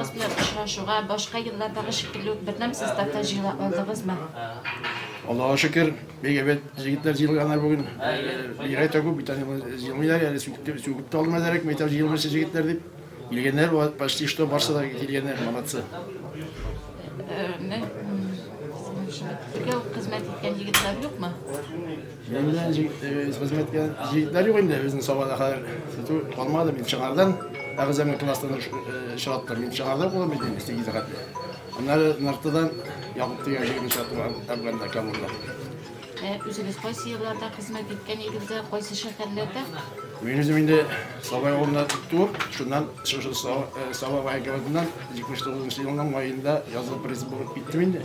Кыз белән очрашуга башка еллардагы шикелле үк бердәм составта җыела алдыгызмы? Аллага шөкер, бик әйбәт җегетләр җыелганнар бүген. Бигрәк тә күп бит әле җыелмыйлар әле сүкеп сүкеп тә алмадылар әк мәйтәм җыелмыйча җегетләр дип. Килгәннәр почти что барсы да килгәннәр, молодцы. Бергә хезмәт иткән егетләр юкмы? Миннән хезмәткә җегетләр юк инде безнең Сабада хәзер. Сату калмады мин чыгардан. Әгъзам класстан чыгарттым. Мин чыгарда булам идем, бистә гизәгәтле. Аннары Нартыдан Якуб дигән җегетне чыгарттым Әфганда, Кабулда. Үзегез кайсы елларда хезмәт иткән идегез, кайсы шәһәрләрдә? Мин үзем инде Сабай авылында туып, шуннан шушы Саба военкоматыннан 79 елның маенда язылып призыв булып киттем инде.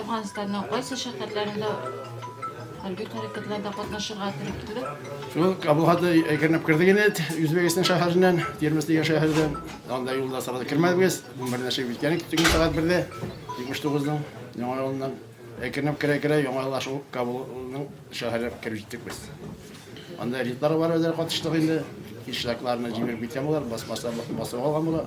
Әфганстанның кайсы шәһәрләрендә хәрби хәрәкәтләрдә катнашырга туры килде? Шул Кабулхатны әкренләп кердек инде, Үзбәкстан шәһәреннән, Термис дигән шәһәрдән. Анда юлда сарада кермәдек без. Бу бер нәрсә үткән тиген сәгать бердә, 79-ның яңа юлыннан әкренләп керә-керә яңа юлда шул Кабулның шәһәренә кереп җиттек без. Анда рейдлар бар, үзләре катыштык инде. Ишлакларны җимереп киткән булар, басмаслар басып алган була.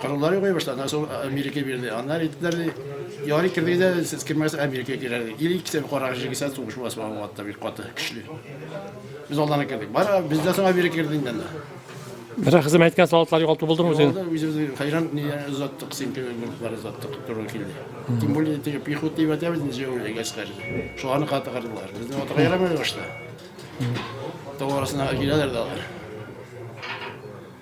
Кораллар юк башта, аннан соң Америка бирде. Аннар әйттеләр, ди, ярый кердегез дә, сез кермәгез, Америка керә, ди. Или икесе карага җигелсә, сугыш була, суган вакытта бик каты, көчле. Без алдан кердек. Бара, бездән соң Америка керде инде анда. Бер хезмәт иткән солдатлар югалту булдымы үзең? Алда үзебез хәйран ни озаттык, синке групплар озаттык, туры килде. Тем более, теге пехота дип әйтәбез, инде җәүле гаскәр. Шуларны катыгардылар. Безне атырга ярамады башта. Тау арасына киләләр дә алар.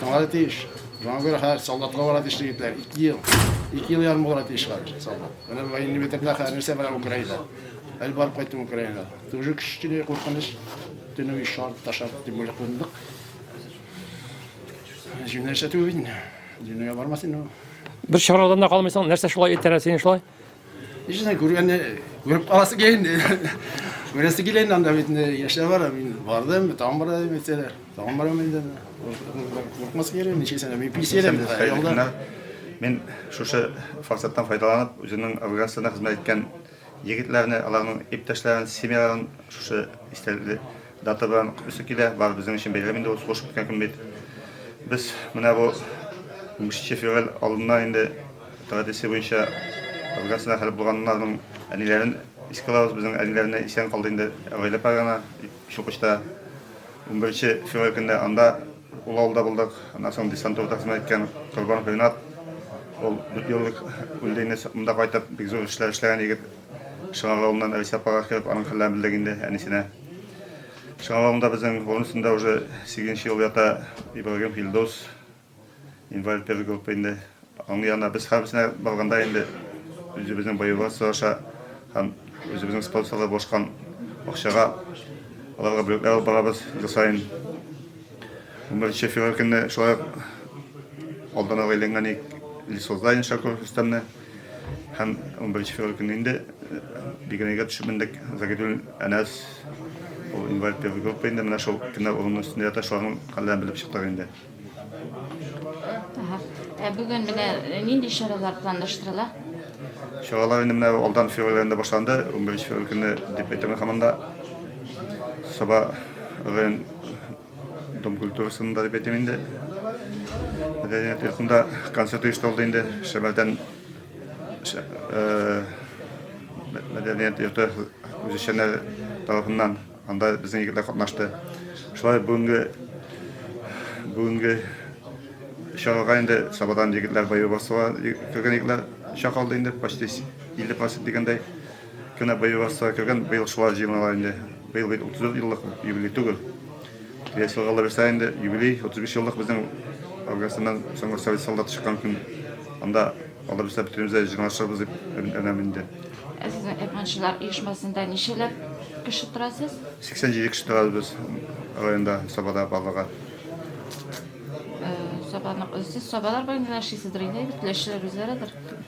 Тыңлады тиеш. Шуңа күрә хәзер солдатка бара тиеш егетләр. Ике ел. Ике ел ярым булыр тиеш хәзер солдат. Менә военный бетердә хәзер нәрсә бара Украинада. Әле барып кайттым Украинада. Тоже кечкенә куркыныч. Төнөй шар ташап дип бүләк кылдык. Җүнәшә түгел. Җүнәгә бармас инде. Бер чарадан да калмыйсың. Нәрсә шулай итерә сине шулай? Ишенә күргәнне күреп каласы килә инде. Күрәсе килә инде анда бит яшьләр бар. Мин бардым, тагын бара дип әйтсәләр. Тагын барам инде. Курыкмас килә, ничек сәнә. Мин пенсиядәм. Ялда. Мин шушы форсаттан файдаланып, үземнең организациясенә хезмәт иткән егетләрне, аларның иптәшләрен, семьяларын шушы истәлекле Дата белән үсе килә, бары безнең өчен бәйрәм инде ул, сугышып киткән көн бит. Без менә бу унбишенче февраль алдыннан инде традиция буенча организмнар хәл булганнарның әниләрен искә алабыз, безнең әниләрне исән калды инде гаилә програмына дип Чулкычта унберенче февраль көнне анда ул авылда булдык, аннан соң десантурада хезмәт иткән Корбанов Ренат, ул дүрт ел элек үлде инде, монда кайтып бик зур эшләр эшләгән егет, Шыгар авылыннан Рәйсә апага кереп аның хәлләрен белдек инде, әнисенә. Чыгалагында безнең урын өстендә уже сигезенче ел ята Ибрагим Филдос, инвалид первый группа инде. Аның янына без һәммәсенә барганда инде үзебезнең боевой сораша һәм үзебезнең спонсорлар бошкан акчага аларга бүләкләр алып барабыз ел саен. 11 февраль көнне шулай алдан алга әйләнгән Лисозда Иншаков Рөстәмне. Һәм унберенче февраль көнне инде бигерәгә төшеп мендек. Загидуллин Әнәс, ул инвалид первой группы инде, менә шул кемнәр урынның өстендә ята, шуларның хәлләрен белеп чыктык инде. Ә бүген менә нинди чаралар планлаштырыла? Чаралар инде менә алдан февраль аенда башланды. Унберенче февраль көнне дип әйтәм мин һаман да. Саба район Дом культурасының да дип әйтәм инде. Мәдәният йортында концерт оештырылды инде. Шәмәрдән мәдәният йорты үзешчәннәр тарафыннан анда безнең егетләр катнашты. Шулай бүгенге бүгенге чарага инде Сабадан егетләр баю басуга кергән егетләр чакырылды инде почти 50% дигәндәй. Кенә быел Росстага кергән, быел шулай җыен ала инде. Быел бит 34 еллык юбилей түгел. Киләсе елга алабезса инде юбилей, 35 еллык безнең Афганистаннан соңгы совет солдаты чыккан көн. Анда алабезса бөтенебез дә җыйналышырбыз дип өметләнәм инде. Ә сезнең Әпманчылар оешмасында ничәләп кеше торасыз? 87 кеше торабыз без районда, Сабада барлыгы. Сабаның, сез Сабалар белән генә эшлисездер инде, әйбер, теләчеләр үзләредер.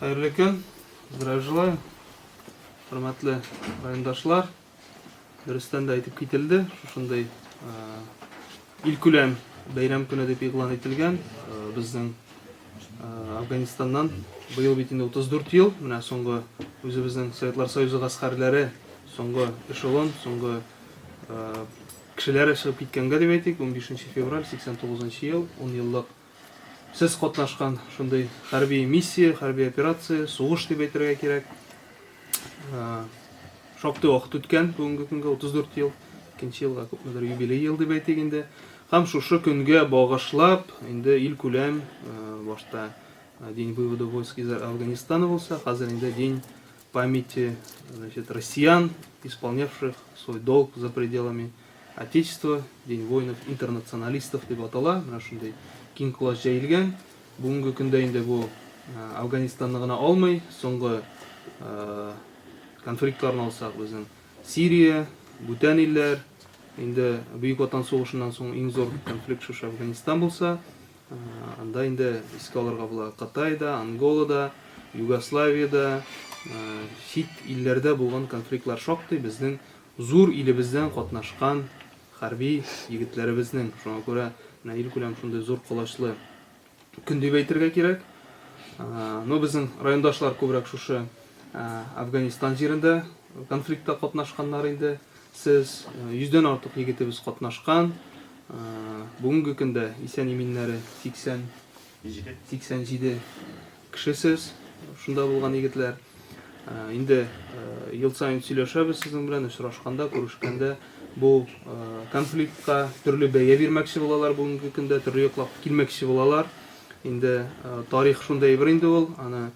Хәерле көн. Здравия желаю. Хөрмәтле райондашлар. Дөрестән дә әйтеп кителде, шушындый илкүләм бәйрәм көне дип игълан ителгән. Безнең Афганистаннан быел бит инде 34 ел, менә соңгы үзебезнең Советлар Союзы гаскәрләре, соңгы эшелон, соңгы Кешеләре чыгып киткәнгә дип әйтик, унбишенче февраль, сиксән тугызынчы ел, унъеллык Сез катнашкан шундый хәрби миссия, хәрби операция, сугыш дип әйтергә кирәк. Шактый вакыт үткән, бүгенге көнгә 34 ел, икенче елга күпмедер юбилей ел дип әйтик инде. Һәм шушы көнгә багышлап, инде ил күләм, башта День вывода войск из Афганистана булса, хәзер инде День Памяти, значит, россиян, исполнявших свой долг за пределами Отечества, День воинов, интернационалистов деп атала, менә шундый киң колач җәелгән. Бүгенге көндә инде бу Афганистанны гына алмый, соңгы конфликтларны алсак, безнең Сирия, бүтән илләр, инде Бөек Ватан сугышыннан соң иң зур конфликт шушы Афганистан булса, Анда инде искә алырга була Кытайда, Анголада, Югославиядә, чит илләрдә булган конфликтлар шактый безнең зур илебездән катнашкан хәрби егетләребезнең. Шуңа күрә менә илкүләм шундый зур колачлы көн дип әйтергә кирәк. Но безнең райондашлар күбрәк шушы Афганистан җирендә конфликтта катнашканнар инде. Сез йөздән артык егетебез катнашкан. Бүгенге көндә исән-иминнәре 80-87 кешесез шунда булган егетләр. Инде ел саен сөйләшәбез сезнең белән, очрашканда, күрешкәндә бу конфликтка төрле бәя бирмәкче булалар бүгенге көндә, төрле яклап килмәкче булалар. Инде тарих шундый әйбер инде ул, аны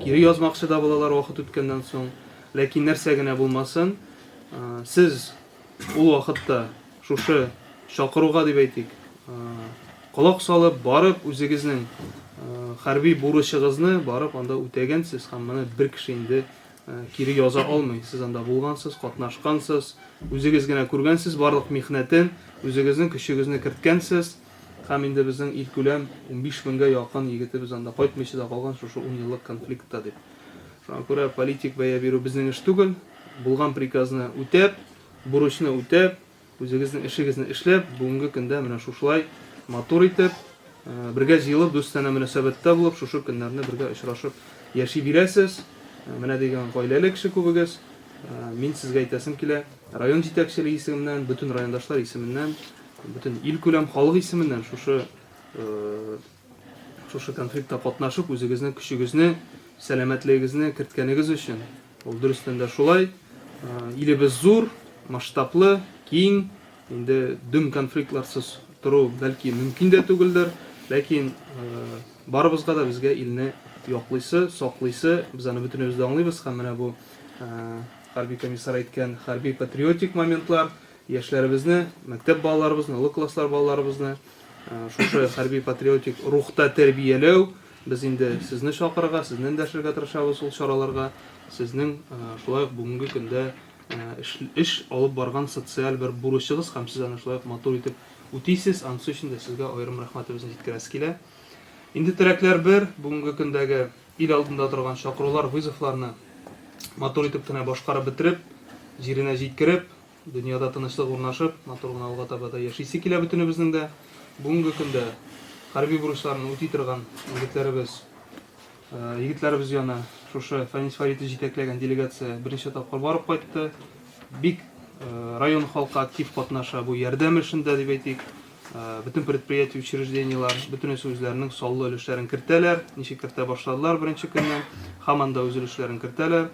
кире язмакчы да булалар вакыт үткәннән соң. Ләкин нәрсә генә булмасын, сез Ул вакытта шушы чакыруга дип әйтик, колак салып, барып үзегезнең хәрби бурычыгызны барып анда үтәгәнсез һәм моны бер кеше инде кире яза алмый. Сез анда булгансыз, катнашкансыз, үзегез генә күргәнсез барлык михнәтен, үзегезнең көчегезне керткәнсез һәм инде безнең илкүләм 15 меңгә якын егетебез анда кайтмыйча да калган шушы 10 еллык конфликтта дип. Шуңа күрә политик бәя бирү безнең эш түгел. Булган приказны үтәп, бурычны үтәп, үзегезнең эшегезне эшләп, бүгенге көндә менә шушылай матур итеп, бергә җыелып, дустанә мөнәсәбәттә булып, шушы көннәрне бергә очрашып яши бирәсез. Менә дигән гаиләле кеше күбегез. Мин сезгә әйтәсем килә, район җитәкчелеге исеменнән, бөтен райондашлар исеменнән, бөтен ил күләм халык исеменнән шушы Шушы конфликтта катнашып, үзегезнең көчегезне, сәламәтлегегезне керткәнегез өчен. Ул дөрестән дә шулай. Илебез зур, масштаблы, киң. Инде дөм конфликтларсыз тору бәлки мөмкин дә түгелдер. Ләкин барыбызга да безгә илне яклыйсы, саклыйсы, без аны бөтенебез дә аңлыйбыз һәм менә бу хәрби комиссар әйткән хәрби патриотик моментлар Яшьләребезне, мәктәп балаларыбызны, олы класслар балаларыбызны шушы хәрби-патриотик рухта тәрбияләү, без инде сезне чакырырга, сезне эндәшергә тырышабыз ул чараларга, сезнең шулай ук бүгенге көндә эш алып барган социаль бер бурычыгыз һәм сез аны шулай ук матур итеп үтисез, анысы өчен дә сезгә аерым рәхмәтебезне җиткерәсе килә. Инде теләкләр бер, бүгенге көндәге ил алдында торган чакырулар, вызовларны матур итеп кенә башкарып бетереп, җиренә җиткереп, Дөньяда тынычлык урнашып, матур гына алга таба да яшисе килә бөтенебезнең дә. Бүгенге көндә хәрби бурычларын үти торган егетләребез, егетләребез яна шушы Фәнис Фаритов җитәкләгән делегация беренче тапкыр барып кайтты. Бик район халкы актив катнаша бу ярдәм эшендә дип әйтик. Бөтен предприятие, учреждениелар бөтенесе үзләренең саллы өлешләрен кертәләр. Ничек кертә башладылар беренче көннән, һаман да үз өлешләрен кертәләр.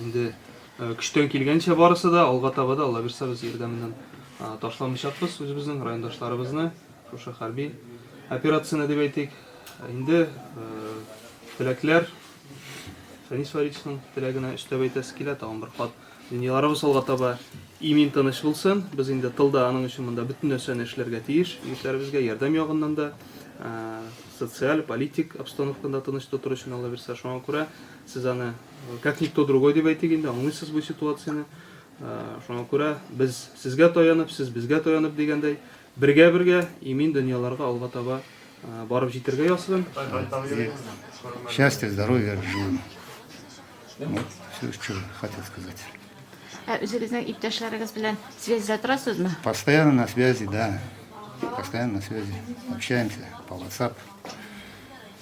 Инде Э, көчтән килгәнчә барысы да алга таба да алла бирса без ярдәменнән ташламыйчакбыз үзебезнең райондашларыбызны шушы хәрби операцияне дип әйтик э, инде э, теләкләр фәнис варичның теләгенә өстәп әйтәсе килә тагын бер кат дөньяларыбыз алга таба имин тыныч булсын без инде тылда аның өчен монда бөтен нәрсәне эшләргә тиеш егетләребезгә ярдәм ягыннан да социаль политик обстановканы тыныч тотыр өчен алла бирса шуңа күрә сез аны Как никто другой дип әйтик инде, аңлыйсыз бу ситуацияне. Шуңа күрә без сезгә таянып, сез безгә таянып дигәндәй, бергә-бергә имин дөньяларга алга таба барып җитергә ясыйм. Счастья, здоровья, жил. Вот, все, что хотел сказать. Ә үзегезнең иптәшләрегез белән связьда торасызмы? Постоянно на связи, да. Постоянно на связи. Общаемся по WhatsApp.